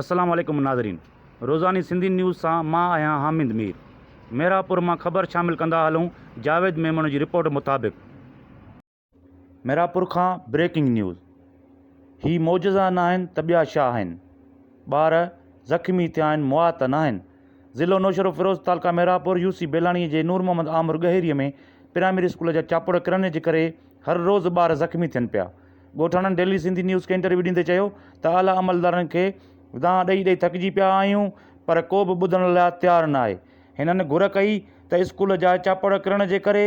السلام عليڪم ناظرين روزاني سنڌي نيوز سان مان آهيان حامد مير محرابپور مان خبر شامل ڪندا هلون جاويد ميمڻ جي رپورٽ مطابق محرابپور کان بريڪنگ نيوز هي معجزا ناهن ته ٻيا شا آهن ٻار زخمي ٿيا آهن مئا ته ناهن ضلعو نوشهرو فيروز تعلقه محرابپور يو سي بيلاڻي جي نور محمد آمر ڳهيري ۾ پرائمري اسڪول جا چاپڙ ڪرڻ جي ڪري هر روز ٻار زخمي ٿين پيا ڳوٺاڻن ڊيلي سنڌي نيوز کي انٽرويو ڏيندي چيو ته اعليٰ عملدارن کي دانهن ڏئي ڏئي ٿڪجي پيا آهيون پر ڪو به ٻڌڻ لاء تيار نه آهي، هنن گهر ڪئي ته اسڪول جا چاپڙ ڪرڻ جي ڪري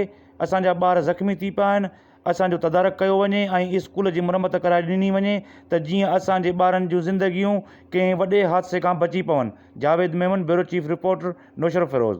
اسان جا ٻار زخمي ٿي پيا آهن، اسان جو تدارڪ ڪيو وڃي ۽ اسڪول جي مرمت ڪرائي ڏني وڃي ته جيئن اسان جي ٻارن جون زندگيون ڪنهن وڏي حادثي کان بچي پون، Javed Memon, bureau chief reporter, Naushahro Feroze.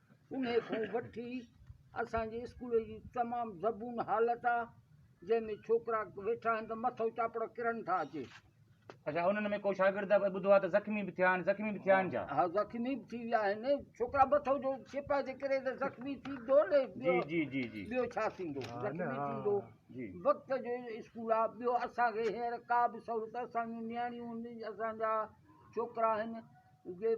انهيء کان وٺي اسان جي اسڪول جي تمام زبون حالت آ جنهن ۾ ڇوڪرا ويٺا آهن ته مٿو چاپڙ ڪرڻ ٿا اچي. اچا انهن ۾ ڪو شاگرد اڄ ٻڌو آ ته زخمي به ٿيا آهن زخمي به ٿيا آهن ڇا؟ ها زخمي به ٿي ويا آهن ڇوڪرا مٿو جو چپا جي ڪري ته زخمي ٿيندو نه جي جي جي جي ٻيو ڇا ٿيندو زخمي ٿيندو جي وقت جو اسڪول آ ٻيو اسان کي هينئر ڪا به سهولت اسان جون نياڻيون اسان جا ڇوڪرا آهن جي